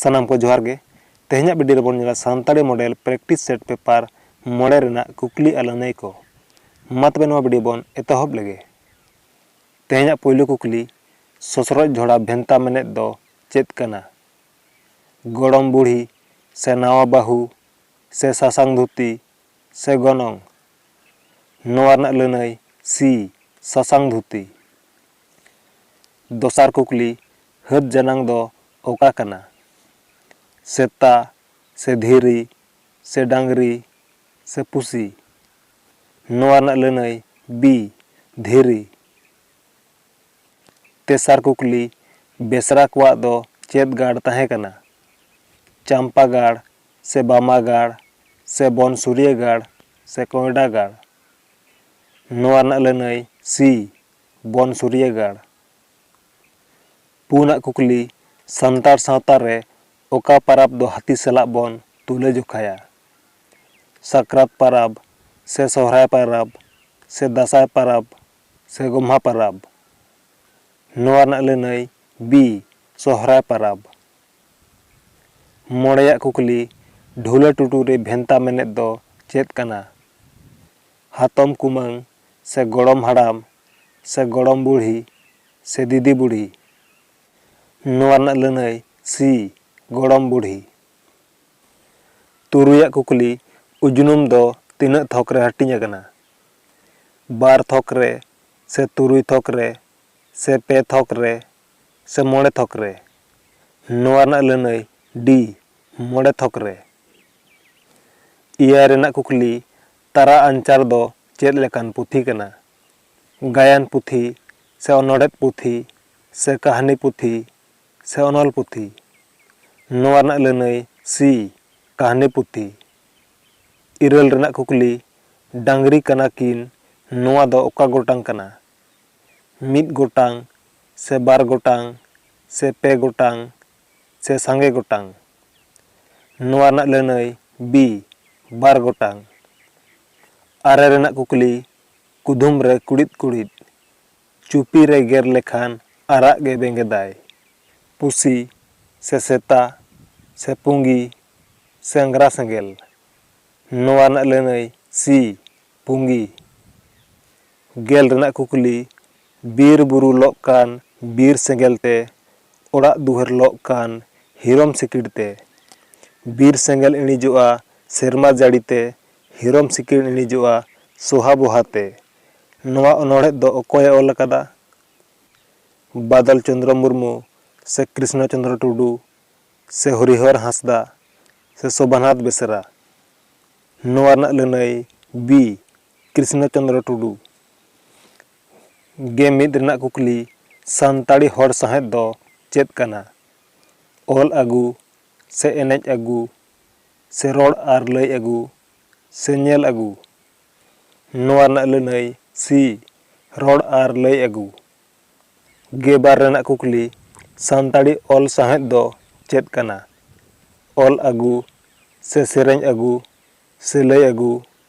ᱥᱟᱱᱟᱢ ᱠᱚ ᱡᱚᱦᱟᱨ ᱜᱮ ᱛᱮᱦᱮᱧᱟᱜ ᱵᱷᱤᱰᱤᱭᱳ ᱨᱮᱵᱚᱱ ᱧᱮᱞᱟ Santali model practice set paper ᱢᱚᱬᱮ ᱨᱮᱱᱟᱜ ᱠᱩᱠᱞᱤ ᱟᱨ ᱞᱟᱹᱱᱟᱹᱭ ᱠᱚ ᱢᱟ ᱛᱚᱵᱮ ᱱᱚᱣᱟ ᱵᱷᱤᱰᱤᱭᱳ ᱵᱚᱱ ᱮᱛᱚᱦᱚᱵ ᱞᱮᱜᱮ ᱛᱮᱦᱮᱧᱟᱜ ᱯᱳᱭᱞᱳ ᱠᱩᱠᱞᱤ ᱥᱚᱥᱨᱚᱡ ᱡᱷᱚᱲᱟ ᱵᱷᱮᱱᱛᱟ ᱢᱮᱱᱮᱫ ᱫᱚ ᱪᱮᱫ ᱠᱟᱱᱟ ᱜᱚᱲᱚᱢ ᱵᱩᱲᱦᱤ ᱥᱮ ᱱᱟᱣᱟ ᱵᱟᱹᱦᱩ ᱥᱮ ᱥᱟᱥᱟᱝ ᱫᱷᱩᱛᱤ ᱥᱮ ᱜᱚᱱᱚᱝ ᱱᱚᱣᱟ ᱨᱮᱱᱟᱜ ᱞᱟᱹᱱᱟᱹᱭ, ᱥᱤ, ᱥᱟᱥᱟᱝ ᱫᱷᱩᱛᱤ᱾ ᱫᱚᱥᱟᱨ ᱠᱩᱠᱞᱤ, ᱦᱟᱹᱛ ᱡᱟᱱᱟᱝ ᱫᱚ ᱚᱠᱟ ᱠᱟᱱᱟ? ᱥᱮᱛᱟ ᱥᱮ ᱫᱷᱤᱨᱤ ᱥᱮ ᱰᱟᱝᱨᱤ ᱥᱮ ᱯᱩᱥᱤ? ᱱᱚᱣᱟ ᱨᱮᱱᱟᱜ ᱞᱟᱹᱱᱟᱹᱭ, ᱵᱤ, ᱫᱷᱤᱨᱤ᱾ ᱛᱮᱥᱟᱨ ᱠᱩᱠᱞᱤ, ᱵᱮᱥᱨᱟ ᱠᱚᱣᱟᱜ ᱫᱚ ᱪᱮᱫ ᱜᱟᱲ ᱛᱟᱦᱮᱸ ᱠᱟᱱᱟ? ᱪᱟᱢᱯᱟ ᱜᱟᱲ, ᱥᱮ ᱵᱟᱢᱟ ᱜᱟᱲ ᱥᱮ ᱵᱚᱱ ᱥᱩᱨᱭᱟᱹ ᱜᱟᱲ ᱥᱮ ᱠᱚᱸᱭᱰᱟ ᱜᱟᱲ ᱱᱚᱣᱟ ᱨᱮᱱᱟᱜ ᱞᱟᱹᱱᱟᱹᱭ ᱥᱤ ᱵᱚᱱ ᱥᱩᱨᱭᱟᱹ ᱜᱟᱲ ᱯᱩᱱᱟᱜ ᱠᱩᱠᱞᱤ ᱥᱟᱱᱛᱟᱲ ᱥᱟᱶᱛᱟ ᱨᱮ ᱚᱠᱟ ᱯᱟᱨᱟᱵᱽ ᱫᱚ ᱦᱟᱹᱛᱤ ᱥᱟᱞᱟᱜ ᱵᱚᱱ ᱛᱩᱞᱟᱹ ᱡᱚᱠᱷᱟᱭᱟ ᱥᱟᱠᱨᱟᱛ ᱯᱟᱨᱟᱵᱽ ᱥᱮ ᱥᱚᱦᱨᱟᱭ ᱯᱟᱨᱟᱵᱽ ᱥᱮ ᱫᱟᱥᱟᱸᱭ ᱯᱟᱨᱟᱵᱽ ᱥᱮ ᱜᱚᱢᱦᱟ ᱯᱟᱨᱟᱵᱽ ᱱᱚᱣᱟ ᱨᱮᱱᱟᱜ ᱞᱟᱹᱱᱟᱹᱭ ᱵᱤ ᱥᱚᱦᱨᱟᱭ ᱯᱟᱨᱟᱵᱽ ᱢᱚᱬᱮᱭᱟᱜ ᱠᱩᱠᱞᱤ, ᱰᱷᱩᱞᱟᱹ ᱴᱩᱴᱩ ᱨᱮ ᱵᱷᱮᱱᱛᱟ ᱢᱮᱱᱮᱛ ᱫᱚ ᱪᱮᱫ ᱠᱟᱱᱟ? ᱦᱟᱛᱚᱢ ᱠᱩᱢᱟᱹᱝ ᱥᱮ ᱜᱚᱲᱚᱢ ᱦᱟᱲᱟᱢ ᱥᱮ ᱜᱚᱲᱚᱢ ᱵᱩᱲᱦᱤ ᱥᱮ ᱫᱤᱫᱤ ᱵᱩᱲᱦᱤ? ᱱᱚᱣᱟ ᱨᱮᱱᱟᱜ ᱞᱟᱹᱱᱟᱹᱭ ᱥᱤ, ᱜᱚᱲᱚᱢ ᱵᱩᱲᱦᱤ᱾ ᱛᱩᱨᱩᱭᱟᱜ ᱠᱩᱠᱞᱤ, ᱩᱡᱽᱱᱩᱢ ᱫᱚ ᱛᱤᱱᱟᱹᱜ ᱛᱷᱚᱠ ᱨᱮ ᱦᱟᱹᱴᱤᱧ ᱟᱠᱟᱱᱟ? ᱵᱟᱨ ᱛᱷᱚᱠ ᱨᱮ ᱥᱮ ᱛᱩᱨᱩᱭ ᱛᱷᱚᱠ ᱨᱮ ᱥᱮ ᱯᱮ ᱛᱷᱚᱠ ᱨᱮ? ᱥᱮ ᱢᱚᱬᱮ ᱛᱷᱚᱠ ᱨᱮ ᱱᱚᱣᱟ ᱨᱮᱱᱟᱜ ᱞᱟᱹᱱᱟᱹᱭ ᱰᱤ ᱢᱚᱬᱮ ᱛᱷᱚᱠ ᱨᱮ ᱮᱭᱟᱭ ᱨᱮᱱᱟᱜ ᱠᱩᱠᱞᱤ ᱛᱟᱨᱟ ᱟᱧᱪᱟᱨ ᱫᱚ ᱪᱮᱫ ᱞᱮᱠᱟᱱ ᱯᱩᱛᱷᱤ ᱠᱟᱱᱟ ᱜᱟᱭᱟᱱ ᱯᱩᱛᱷᱤ ᱥᱮ ᱚᱱᱚᱬᱦᱮᱫ ᱯᱩᱛᱷᱤ ᱥᱮ ᱠᱟᱹᱦᱱᱤ ᱯᱩᱛᱷᱤ ᱥᱮ ᱚᱱᱚᱞ ᱯᱩᱛᱷᱤ ᱱᱚᱣᱟ ᱨᱮᱱᱟᱜ ᱞᱟᱹᱱᱟᱹᱭ ᱥᱤ ᱠᱟᱹᱦᱱᱤ ᱯᱩᱛᱷᱤ ᱤᱨᱟᱹᱞ ᱨᱮᱱᱟᱜ ᱠᱩᱠᱞᱤ ᱰᱟᱝᱨᱤ ᱠᱟᱱᱟ ᱠᱤᱱ ᱱᱚᱣᱟ ᱫᱚ ᱚᱠᱟ ᱜᱚᱴᱟᱝ ᱠᱟᱱᱟ ᱢᱤᱫ ᱜᱚᱴᱟᱝ ᱥᱮ ᱵᱟᱨ ᱜᱚᱴᱟᱝ ᱥᱮ ᱯᱮ ᱜᱚᱴᱟᱝ ᱥᱮ ᱥᱟᱸᱜᱮ ᱜᱚᱴᱟᱝ᱾ ᱱᱚᱣᱟ ᱨᱮᱱᱟᱜ ᱞᱟᱹᱱᱟᱹᱭ ᱵᱤ, ᱵᱟᱨ ᱜᱚᱴᱟᱝ᱾ ᱟᱨᱮ ᱨᱮᱱᱟᱜ ᱠᱩᱠᱞᱤ ᱠᱩᱫᱷᱩᱢ ᱨᱮ ᱠᱩᱲᱤᱫ ᱠᱩᱲᱤᱫ᱾ ᱪᱩᱯᱤ ᱨᱮ ᱜᱮᱨ ᱞᱮᱠᱷᱟᱱ ᱟᱨᱟᱜ ᱜᱮ ᱵᱮᱸᱜᱮᱫᱟᱭ᱾ ᱯᱩᱥᱤ ᱥᱮ ᱥᱮᱛᱟ ᱥᱮ ᱯᱩᱸᱜᱤ ᱥᱮ ᱟᱝᱜᱽᱨᱟ ᱥᱮᱸᱜᱮᱞ᱾ ᱱᱚᱣᱟ ᱨᱮᱱᱟᱜ ᱞᱟᱹᱱᱟᱹᱭ ᱥᱤ, ᱯᱩᱸᱜᱤ᱾ ᱜᱮᱞ ᱨᱮᱱᱟᱜ ᱠᱩᱠᱞᱤ, ᱵᱤᱨ ᱵᱩᱨᱩ ᱞᱚᱜ ᱠᱟᱱ ᱵᱤᱨ ᱥᱮᱸᱜᱮᱞ ᱛᱮ, ᱚᱲᱟᱜ ᱫᱩᱣᱟᱹᱨ ᱞᱚᱜ ᱠᱟᱱ ᱦᱤᱨᱚᱢ ᱥᱤᱠᱤᱲ ᱛᱮ᱾ ᱵᱤᱨ ᱥᱮᱸᱜᱮᱞ ᱤᱬᱤᱡᱚᱜᱼᱟ ᱥᱮᱨᱢᱟ ᱡᱟᱹᱲᱤ ᱛᱮ, ᱦᱤᱨᱚᱢ ᱥᱤᱠᱤᱲ ᱤᱬᱤᱡᱚᱜᱼᱟ ᱥᱚᱦᱟ ᱵᱚᱦᱟ ᱛᱮ᱾ ᱱᱚᱣᱟ ᱚᱱᱚᱬᱦᱮᱫ ᱫᱚ ᱚᱠᱚᱭ ᱮ ᱚᱞ ᱟᱠᱟᱫᱟ? ᱵᱟᱫᱚᱞ ᱪᱚᱱᱫᱽᱨᱚ ᱢᱩᱨᱢᱩ ᱥᱮ ᱠᱨᱤᱥᱱᱚ ᱪᱚᱱᱫᱽᱨᱚ ᱴᱩᱰᱩ ᱥᱮ ᱦᱚᱨᱤᱦᱚᱨ ᱦᱟᱸᱥᱫᱟ ᱥᱮ ᱥᱚᱵᱷᱟᱱᱟᱛᱷ ᱵᱮᱥᱨᱟ? ᱱᱚᱣᱟ ᱨᱮᱱᱟᱜ ᱞᱟᱹᱱᱟᱹᱭ ᱵᱤ ᱠᱨᱤᱥᱱᱚ ᱪᱚᱱᱫᱨᱚ ᱴᱩᱰᱩ ᱜᱮ ᱢᱤᱫ ᱨᱮᱱᱟᱜ ᱠᱩᱠᱞᱤ ᱥᱟᱱᱛᱟᱲᱤ ᱦᱚᱲ ᱥᱟᱶᱦᱮᱫ ᱫᱚ ᱪᱮᱫ ᱠᱟᱱᱟ ᱚᱞ ᱟᱹᱜᱩ ᱥᱮ ᱮᱱᱮᱡ ᱟᱹᱜᱩ ᱥᱮ ᱨᱚᱲ ᱟᱨ ᱞᱟᱹᱭ ᱟᱹᱜᱩ ᱥᱮ ᱧᱮᱞ ᱟᱹᱜᱩ ᱱᱚᱣᱟ ᱨᱮᱱᱟᱜ ᱞᱟᱹᱱᱟᱹᱭ ᱥᱤ ᱨᱚᱲ ᱟᱨ ᱞᱟᱹᱭ ᱟᱹᱜᱩ ᱜᱮ ᱵᱟᱨ ᱨᱮᱱᱟᱜ ᱠᱩᱠᱞᱤ ᱥᱟᱱᱛᱟᱲᱤ ᱚᱞ ᱥᱟᱶᱦᱮᱫ ᱫᱚ ᱪᱮᱫ ᱠᱟᱱᱟ ᱚᱞ ᱟᱹᱜᱩ ᱥᱮ ᱥᱮᱨᱮᱧ ᱟᱹᱜᱩ ᱥᱮ ᱞᱟᱹᱭ ᱟᱹᱜᱩ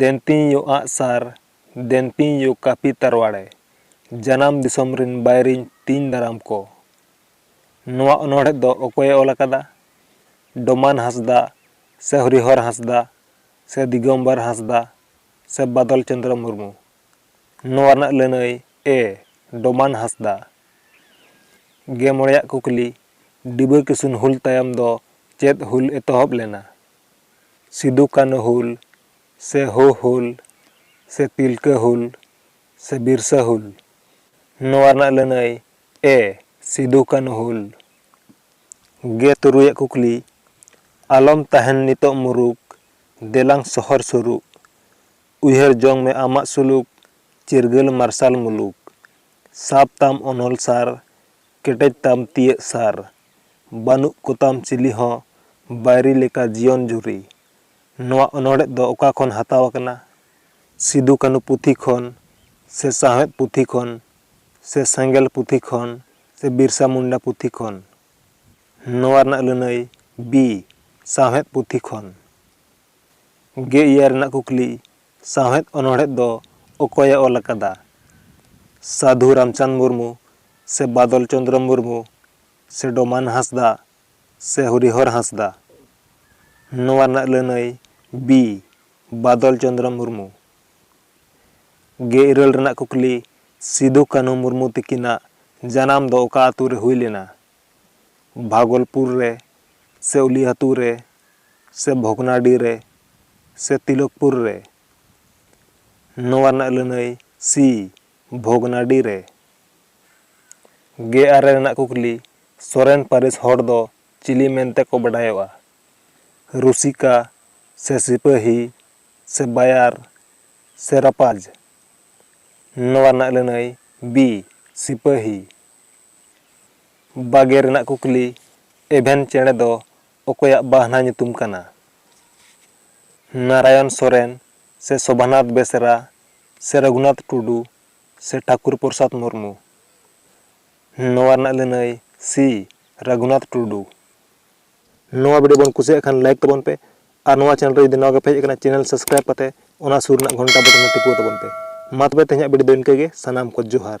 ᱫᱮᱱᱯᱤᱧ ᱭᱳ ᱟᱸᱜ ᱥᱟᱨ ᱫᱮᱱᱯᱤᱧ ᱭᱳ ᱠᱟᱹᱯᱤ ᱛᱟᱨᱣᱟᱲᱮ ᱡᱟᱱᱟᱢ ᱫᱤᱥᱚᱢ ᱨᱤᱱ ᱵᱟᱹᱭᱨᱤᱧ ᱛᱤᱧ ᱫᱟᱨᱟᱢ ᱠᱚ᱾ ᱱᱚᱣᱟ ᱚᱱᱚᱬᱦᱮᱸ ᱫᱚ ᱚᱠᱚᱭ ᱮ ᱚᱞ ᱟᱠᱟᱫᱟ? ᱰᱚᱢᱟᱱ ᱦᱟᱸᱥᱫᱟ ᱥᱮ ᱦᱚᱨᱤᱦᱚᱨ ᱦᱟᱸᱥᱫᱟ ᱥᱮ ᱫᱤᱜᱚᱢᱵᱚᱨ ᱦᱟᱸᱥᱫᱟ ᱥᱮ ᱵᱟᱫᱚᱞ ᱪᱚᱱᱫᱽᱨᱚ ᱢᱩᱨᱢᱩ? ᱱᱚᱣᱟ ᱨᱮᱱᱟᱜ ᱞᱟᱹᱱᱟᱹᱭ ᱮ ᱰᱚᱢᱟᱱ ᱦᱟᱸᱥᱫᱟ᱾ ᱜᱮ ᱢᱚᱬᱮᱭᱟᱜ ᱠᱩᱠᱞᱤ, ᱰᱤᱵᱟᱹ ᱠᱤᱥᱩᱱ ᱦᱩᱞ ᱛᱟᱭᱚᱢ ᱫᱚ ᱪᱮᱫ ᱦᱩᱞ ᱮᱛᱚᱦᱚᱵ ᱞᱮᱱᱟ? ᱥᱤᱫᱩ ᱠᱟᱹᱱᱦᱩ ᱦᱩᱞ ᱥᱮ ᱦᱳ ᱦᱩᱞ ᱥᱮ ᱛᱤᱞᱠᱟᱹ ᱦᱩᱞ ᱥᱮ ᱵᱤᱨᱥᱟᱹ ᱦᱩᱞ ᱱᱚᱣᱟ ᱨᱮᱱᱟᱜ ᱞᱟᱹᱱᱟᱹᱭ ᱮ ᱥᱤᱫᱩ ᱠᱟᱹᱱᱦᱩ ᱦᱩᱞ ᱜᱮ ᱛᱩᱨᱩᱭ ᱟᱜ ᱠᱩᱠᱞᱤ ᱟᱞᱚᱢ ᱛᱟᱦᱮᱱ ᱱᱤᱛᱚᱜ ᱢᱩᱨᱩᱠ ᱫᱮᱞᱟᱝ ᱥᱚᱦᱚᱨ ᱥᱩᱨᱩᱜ ᱩᱭᱦᱟᱹᱨ ᱡᱚᱝ ᱢᱮ ᱟᱢᱟᱜ ᱥᱩᱞᱩᱠ ᱪᱤᱨᱜᱟᱹᱞ ᱢᱟᱨᱥᱟᱞ ᱢᱩᱞᱩᱠ ᱥᱟᱵ ᱛᱟᱢ ᱚᱱᱚᱞ ᱥᱟᱨ ᱠᱮᱴᱮᱡ ᱛᱟᱢ ᱛᱤᱭᱟᱹᱜ ᱥᱟᱨ ᱵᱟᱹᱱᱩᱜ ᱠᱚᱛᱟᱢ ᱪᱤᱞᱤ ᱦᱚᱸ ᱵᱟᱹᱭᱨᱤ ᱞᱮᱠᱟ ᱡᱤᱭᱚᱱ ᱡᱩᱨᱤ᱾ ᱱᱚᱣᱟ ᱚᱱᱚᱬᱦᱮᱫ ᱫᱚ ᱚᱠᱟ ᱠᱷᱚᱱ ᱦᱟᱛᱟᱣ ᱟᱠᱟᱱᱟ? ᱥᱤᱫᱩ ᱠᱟᱹᱱᱩ ᱯᱩᱛᱷᱤ ᱠᱷᱚᱱ ᱥᱮ ᱥᱟᱶᱦᱮᱫ ᱯᱩᱛᱷᱤ ᱠᱷᱚᱱ ᱥᱮ ᱥᱮᱸᱜᱮᱞ ᱯᱩᱛᱷᱤ ᱠᱷᱚᱱ ᱥᱮ ᱵᱤᱨᱥᱟ ᱢᱩᱱᱰᱟ ᱯᱩᱛᱷᱤ ᱠᱷᱚᱱ? ᱱᱚᱣᱟ ᱨᱮᱱᱟᱜ ᱞᱟᱹᱱᱟᱹᱭ ᱵᱤ, ᱥᱟᱶᱦᱮᱫ ᱯᱩᱛᱷᱤ ᱠᱷᱚᱱ᱾ ᱜᱮ ᱮᱭᱟᱭ ᱨᱮᱱᱟᱜ ᱠᱩᱠᱞᱤ, ᱥᱟᱶᱦᱮᱫ ᱚᱱᱚᱬᱦᱮᱫ ᱫᱚ ᱚᱠᱚᱭ ᱮ ᱚᱞ ᱟᱠᱟᱫᱟ? ᱥᱟᱹᱫᱷᱩ ᱨᱟᱢᱪᱟᱸᱫᱽ ᱢᱩᱨᱢᱩ ᱥᱮ ᱵᱟᱫᱚᱞ ᱪᱚᱸᱫᱽᱨᱚ ᱢᱩᱨᱢᱩ ᱥᱮ ᱰᱚᱢᱟᱱ ᱦᱟᱸᱥᱫᱟ ᱥᱮ ᱦᱚᱨᱤᱦᱚᱨ ᱦᱟᱸᱥᱫᱟ᱾ ᱱᱚᱣᱟ ᱨᱮᱱᱟᱜ ᱞᱟᱹᱱᱟᱹᱭ ᱵᱤ ᱵᱟᱫᱚᱞ ᱪᱚᱱᱫᱽᱨᱚ ᱢᱩᱨᱢᱩ᱾ ᱜᱮ ᱤᱨᱟᱹᱞ ᱨᱮᱱᱟᱜ ᱠᱩᱠᱞᱤ ᱥᱤᱫᱷᱩ ᱠᱟᱹᱱᱦᱩ ᱢᱩᱨᱢᱩ ᱛᱤᱠᱤᱱᱟᱜ ᱡᱟᱱᱟᱢ ᱫᱚ ᱚᱠᱟ ᱟᱹᱛᱩ ᱨᱮ ᱦᱩᱭ ᱞᱮᱱᱟ? ᱵᱷᱟᱜᱚᱞᱯᱩᱨ ᱨᱮ ᱥᱮ ᱩᱞᱤᱦᱟᱛᱩ ᱨᱮ ᱥᱮ ᱵᱷᱚᱜᱽᱱᱟᱰᱤ ᱨᱮ ᱥᱮ ᱛᱤᱞᱚᱠᱯᱩᱨ ᱨᱮ? ᱱᱚᱣᱟ ᱨᱮᱱᱟᱜ ᱞᱟᱹᱱᱟᱹᱭ ᱥᱤ ᱵᱷᱚᱜᱽᱱᱟᱰᱤ ᱨᱮ᱾ ᱜᱮ ᱟᱨᱮ ᱨᱮᱱᱟᱜ ᱠᱩᱠᱞᱤ, ᱥᱚᱨᱮᱱ ᱯᱟᱹᱨᱤᱥ ᱦᱚᱲ ᱫᱚ ᱪᱤᱞᱤ ᱢᱮᱱᱛᱮ ᱠᱚ ᱵᱟᱰᱟᱭᱚᱜᱼᱟ? ᱨᱩᱥᱤᱠᱟ ᱥᱮ ᱥᱤᱯᱟᱹᱦᱤ ᱥᱮ ᱵᱟᱭᱟᱨ ᱥᱮ ᱨᱟᱯᱟᱡᱽ? ᱱᱚᱣᱟ ᱨᱮᱱᱟᱜ ᱞᱟᱹᱱᱟᱹᱭ, ᱵᱤ, ᱥᱤᱯᱟᱹᱦᱤ᱾ ᱵᱟᱜᱮ ᱨᱮᱱᱟᱜ ᱠᱩᱠᱞᱤ, ᱮᱵᱷᱮᱱ ᱪᱮᱬᱮ ᱫᱚ ᱚᱠᱚᱭᱟᱜ ᱵᱟᱦᱱᱟ ᱧᱩᱛᱩᱢ ᱠᱟᱱᱟ? ᱱᱟᱨᱟᱭᱚᱱ ᱥᱚᱨᱮᱱ ᱥᱮ ᱥᱚᱵᱷᱟᱱᱟᱛᱷ ᱵᱮᱥᱨᱟ ᱥᱮ ᱨᱚᱜᱷᱩᱱᱟᱛᱷ ᱴᱩᱰᱩ ᱥᱮ ᱴᱷᱟᱠᱩᱨ ᱯᱨᱚᱥᱟᱫᱽ ᱢᱩᱨᱢᱩ᱾ ᱱᱚᱣᱟ ᱨᱮᱱᱟᱜ ᱞᱟᱹᱱᱟᱹᱭ ᱥᱤ ᱨᱟᱜᱷᱩᱱᱟᱛᱷ ᱴᱩᱰᱩ᱾ ᱱᱚᱣᱟ ᱵᱷᱤᱰᱤᱭᱳ ᱵᱚᱱ ᱠᱩᱥᱤᱭᱟᱜ ᱠᱷᱟᱱ ᱞᱟᱭᱤᱠ ᱛᱟᱵᱚᱱ ᱯᱮ ᱟᱨ ᱱᱚᱣᱟ ᱪᱮᱱᱮᱞ ᱨᱮ ᱡᱩᱫᱤ ᱱᱟᱣᱟ ᱜᱮᱯᱮ ᱦᱮᱡ ᱟᱠᱟᱱᱟ ᱪᱮᱱᱮᱞ ᱥᱟᱵᱥᱠᱨᱟᱭᱤᱵ ᱠᱟᱛᱮ ᱚᱱᱟ ᱥᱩᱨ ᱨᱮᱱᱟᱜ ᱜᱷᱚᱱᱴᱟ ᱵᱚᱴᱚᱱ ᱦᱚᱸ ᱴᱤᱯᱟᱹᱣ ᱛᱟᱵᱚᱱ ᱯᱮ᱾ ᱢᱟ ᱛᱚᱵᱮ ᱛᱮᱦᱮᱧᱟᱜ ᱵᱷᱤᱰᱤᱭᱳ ᱫᱚ ᱤᱱᱠᱟᱹ ᱜᱮ ᱥᱟᱱᱟᱢ ᱠᱚ ᱡᱚᱦᱟᱨ᱾